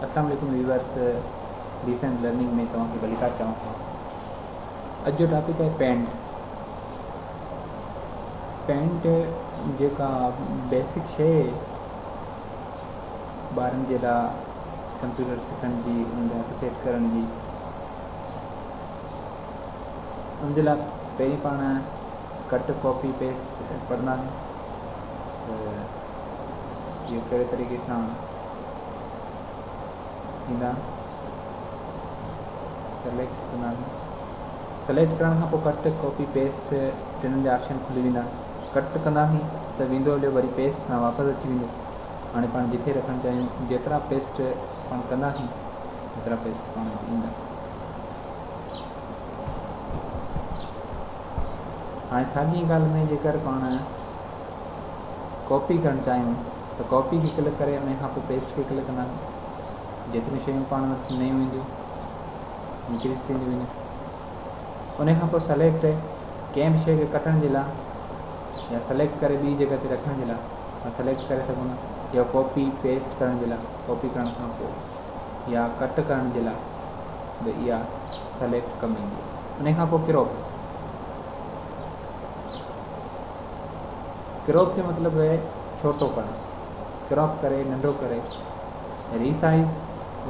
اسلام عليڪم viewers decent learning ۾ توهان کي ڀليڪار چئون ٿو اڄ جو ٽاپڪ آهي پينٽ پينٽ جيڪا بيسڪ شيء ٻارن جي لاء ڪمپيوٽر سکڻ جي ان جا هٿ سيٽ ڪرڻ جي ان جي لاء پهرين پاڻ ڪٽ ڪاپي پيسٽ پڙهنداسين ته اهو ڪهڙي طريقي سان ٿيندا. سليڪٽ ڪندا آهيون. سليڪٽ ڪرڻ کان پوء ڪٽ، ڪاپي، پيسٽ ٽنهن جا آپشن کلي ويندا. ڪٽ ڪنداسين ته ويندو هليو وري پيسٽ سان واپس اچي ويندو. هاڻي پاڻ جتي رکڻ چاهيون جيترا پيسٽ پاڻ ڪنداسين ايترا پيسٽ پاڻ وٽ ايندا. هاڻي ساڳي ڳالهه ۾ جيڪر پاڻ ڪاپي ڪرڻ چاهيون. ته ڪاپي کي ڪلڪ ڪري انهي کانپوء پيسٽ کي ڪلڪ ڪنداسين جيتريون شيون پاڻ وٽ نيون اينديون انڪريز ٿينديون وينديون انهي کانپوء سليڪٽ ڪنهن به شيء کي ڪٽڻ جي لاء يا سليڪٽ ڪري ٻي جڳهه تي رکڻ جي لاء پاڻ سليڪٽ ڪري سگهون ٿا يا ڪاپي پيسٽ ڪرڻ جي لاء ڪاپي ڪرڻ کانپوء يا ڪٽ ڪرڻ جي لاء به اها سليڪٽ ڪم ايندي انهي کانپوء ڪراپ Crop جو مطلب اهي ڇوٽو ڪرڻ، Crop ڪري، ننڍو ڪري، Resize،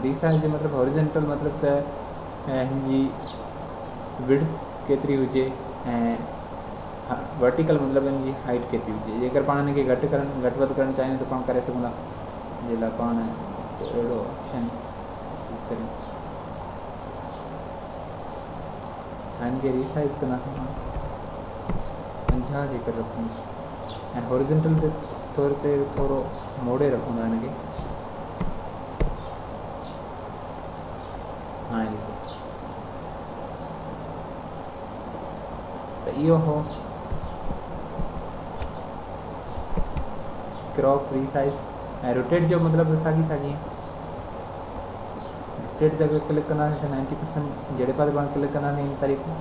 Resize جو مطلب Horizontal مطلب ته هن جي Width ڪيتري هجي ۽ Vertical مطلب هن جي Height ڪيتري هجي جيڪر پاڻ هن کي گهٽ ڪرڻ گهٽ وڌ ڪرڻ چاهيون ته پاڻ ڪري سگهون ٿا جنهن لاء پاڻ اهڙو آپشن ڪلڪ ڪريون ۽ هن کي Resize ڪندا ٿا 50 جي قرب هوندي ۽ هاريزنٽل طور تي ٿورو موڙي رکون ٿا هن کي هاڻي ڏسو ته اهو هو ڪراپ ري سائيز ۽ روٽيٽ جو مطلب ته ساڳي ساڳي جهڙي جڳهه ڪلڪ ڪنداسين سي نائنٽي پرسينٽ جهڙي پاسي پاڻ ڪلڪ ڪنداسين ان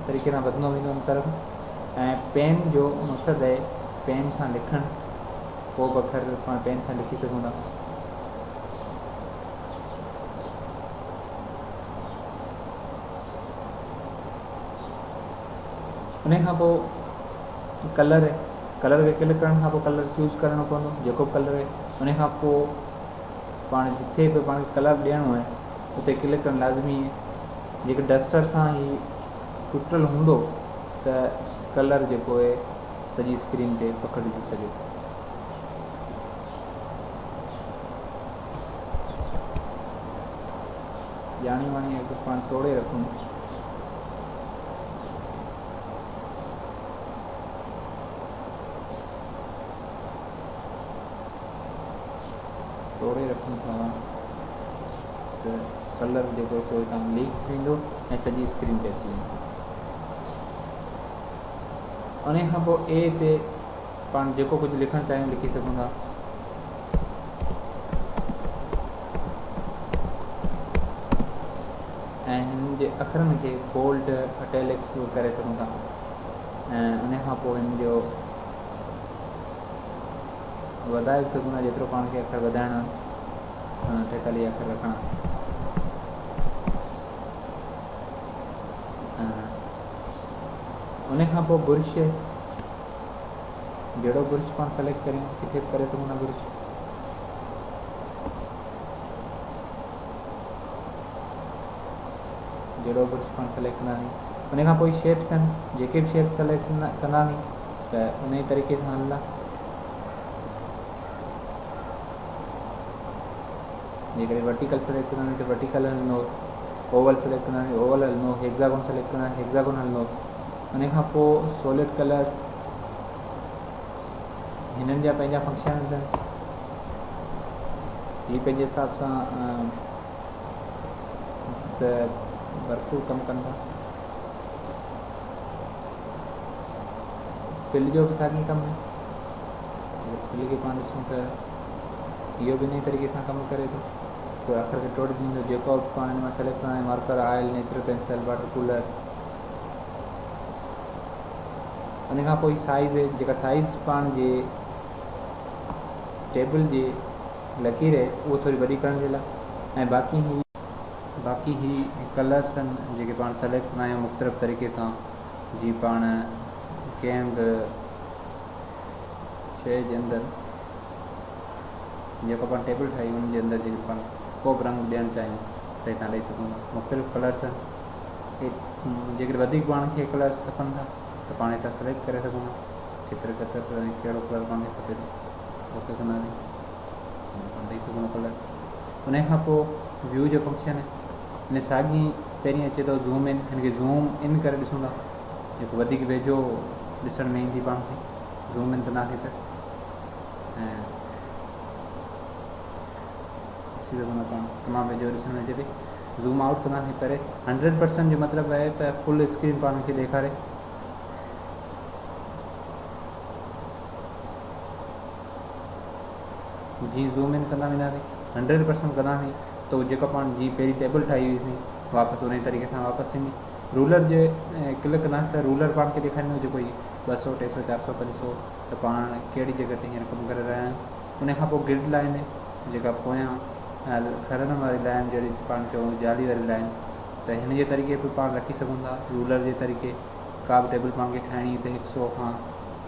طريقي سان وڌندو ويندو ان طرف ۽ پين جو مقصد آهي پين سان لکڻ ڪو به اکر پاڻ پين سان لکي سگهون ٿا ان کان پوء ڪلر ڪلر کي ڪلڪ ڪرڻ کان پوء ڪلر چوز ڪرڻو پوندو جيڪو به ڪلر آهي ان کان پوء پاڻ جتي به پاڻ کي ڪلر ڏيڻو آهي اتي ڪلڪ ڪرڻ لازمي آهي جيڪر ڊسٽر سان هي ٽٽل هوندو ته ڪلر جيڪو آهي سڄي اسڪرين تي پکڙجي سگهي ٿو ڄاڻي واڻي اگر پاڻ ٽوڙي رکون توڙي رکون ٿا ته ڪلر جيڪو سو اتان ليڪ ٿي ويندو ۽ سڄي اسڪرين تي اچي ويندو. انهي کان پوء اي تي پاڻ جيڪو ڪجهه لکڻ چاهيون لکي سگهون ٿا. ۽ هن جي اکرن کي بولڊ اٽيلڪ ڪري سگهون ٿا ۽ انهي کان پوء هن جو وڌائي به سگهون ٿا جيترو پاڻ کي اکر وڌائڻا ۽ ٺهڪل ئي اکر رکڻا آهن. ان کان پوء برش جهڙو برش پاڻ سليڪٽ ڪريون ڪٿي به ڪري سگهون ٿا برش جهڙو برش پاڻ سليڪٽ ڪنداسين ان کان پوء شيپس آهن جيڪي به شيپ سليڪٽ ڪنداسين ته انهيء طريقي سان هلندا، جيڪڏهن ورٽيڪل سليڪٽ ڪنداسين ته ورٽيڪل هلندو، اوول سليڪٽ ڪنداسين ته اوول هلندو، هيگزاگون سليڪٽ ڪنداسين ته هيگزاگون هلندو. انهيء کان پوء سولڊ ڪلرز هنن جا پنهنجا فنڪشنز آهن. هي پنهنجي حساب سان ته ڀرپور ڪم ڪن ٿا. پل جو به ساڳيو ڪم آهي اگر پل کي پاڻ ڏسون ته اهو به انهي طريقي سان ڪم ڪري ٿو پوء اکر کي ٽوڙجي ويندو جيڪو به پاڻ هن مان سليڪٽ ڪرڻو آهي marker oil natural pencil water colour انهي کان پوء سائيز جيڪا سائيز پاڻ جي ٽيبل جي لڪير اهو ٿوري وڏي ڪرڻ جي لاء ۽ باقي هي باقي هي ڪلرس آهن جيڪي پاڻ سليڪٽ ڪندا آهيون مختلف طريقي سان جي پاڻ ڪنهن به شيء جي اندر جيڪو پاڻ ٽيبل ٺاهي ان جي اندر جيڪي پاڻ ڪو به رنگ ڏيڻ چاهيون ته هتان ڏيئي سگهون ٿا مختلف ڪلرس آهن جيڪڏهن وڌيڪ پاڻ کي ڪلرس کپن ٿا ته پاڻ هتان سليڪٽ ڪري سگهون ٿا ڪيتري ڪتر ۽ ڪهڙو ڪلر پاڻ کي کپي ٿو اوڪي ڪنداسين انهي کان پوء view جو فنڪشن هن ساڳي پهرين اچي ٿو زوم ان هن کي زوم ان ڪري ڏسون ٿا جيڪو وڌيڪ ويجهو ڏسڻ ۾ ايندي پاڻ کي زوم ان ڪنداسين ته ڏسي سگهون ٿا پاڻ تمام ويجهو ڏسڻ ۾ اچي پئي زوم آؤٽ ڪنداسين پري هنڊريڊ پرسنٽ جو مطلب آهي ته فل اسڪرين پاڻ کي ڏيکاري جي زوم ان ڪندا وينداسين هنڊريڊ پرسنٽ ڪنداسين تو جيڪا پاڻ جي پهرين ٽيبل ٺاهي هئي سين واپس انهي طريقي سان واپس ٿيندي رولر جي ڪلڪ ڪنداسين ته رولر پاڻ کي ڏيکاريندو جيڪو هي ٻه سو ٽي سو چار سو پنج سو ته پاڻ کيڙي جي گهٽ هينئر ڪم ڪري رهيا آهيون ان کان پوء گرڊ لائن جيڪا پويان کرن واري لائن جهڙي پاڻ چون جالي واري لائن ته هن جي طريقي به پاڻ رکي سگهون ٿا رولر جي طريقي ڪا به ٽيبل پاڻ کي ٺاهڻي ته هڪ سو کان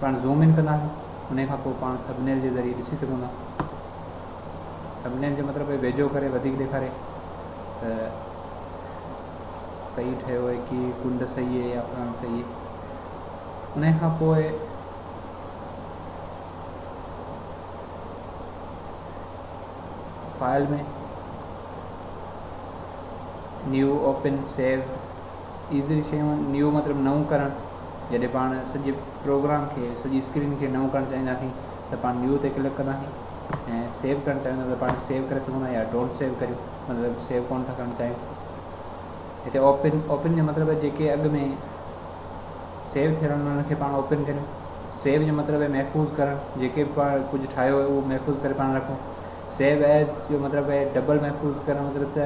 پاڻ زوم ان ڪنداسين انهي کان پوء پاڻ ٿبنيل جي ذريعي ڏسي سگهون ٿا ٿبنيل جو مطلب اهي ويجهو ڪري وڌيڪ ڏيکاري ته صحيح ٺهيو اهي ڪي ڪنڊ صحيح اهي يا پران صحيح اهي انهي کان پوء فائل ۾ نيو اوپن سيو ايزري شيون نيو مطلب نئون ڪرڻ جڏهن پاڻ سڄي پروگرام کي سڄي اسڪرين کي نئون ڪرڻ چاهينداسين ته پاڻ نيو تي ڪلڪ ڪنداسين ۽ سيو ڪرڻ چاهيون ٿا ته پاڻ سيو ڪري سگهون ٿا يا ڊونٽ سيو ڪريون مطلب سيو ڪون ٿا ڪرڻ چاهيون هتي اوپن اوپن جو مطلب جيڪي اڳ ۾ سيو ٿيل آهن انهن کي پاڻ اوپن ڪريون سيو جو مطلب محفوظ ڪرڻ جيڪي به پاڻ ڪجهه ٺاهيو هو محفوظ ڪري پاڻ رکون سيو ايز جو مطلب ڊبل محفوظ ڪرڻ مطلب ته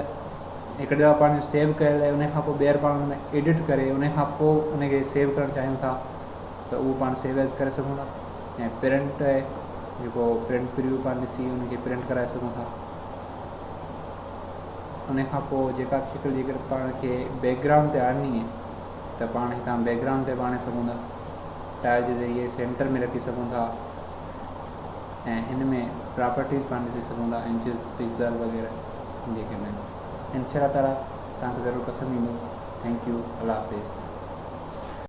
هڪ دفعا پاڻ جو سيو ڪيل آهي ان کان پوء ٻيهر پاڻ ان ۾ ايڊٽ ڪري ان کان پوء ان کي سيو ڪرڻ چاهيون ٿا ته اهو پاڻ سيو ايز ڪري سگهون ٿا ۽ پرنٽ آهي جيڪو پرنٽ پريو پاڻ ڏسي ان کي پرنٽ ڪرائي سگهون ٿا ان کان پوء جيڪا به شڪل جيڪر پاڻ کي بيڪ گرائونڊ تي آڻني آهي ته پاڻ هتان بيڪ گرائونڊ تي به آڻي سگهون ٿا ٽائل جي ذريعي سينٽر ۾ رکي سگهون ٿا ۽ ان ۾ پراپرٽيز پاڻ ڏسي سگهون ٿا انچز پڪزل وغيره جيڪي به آهن انشاء الله تعالي توهان کي ضرور پسند ايندو ٿينڪ يو الله حافظ.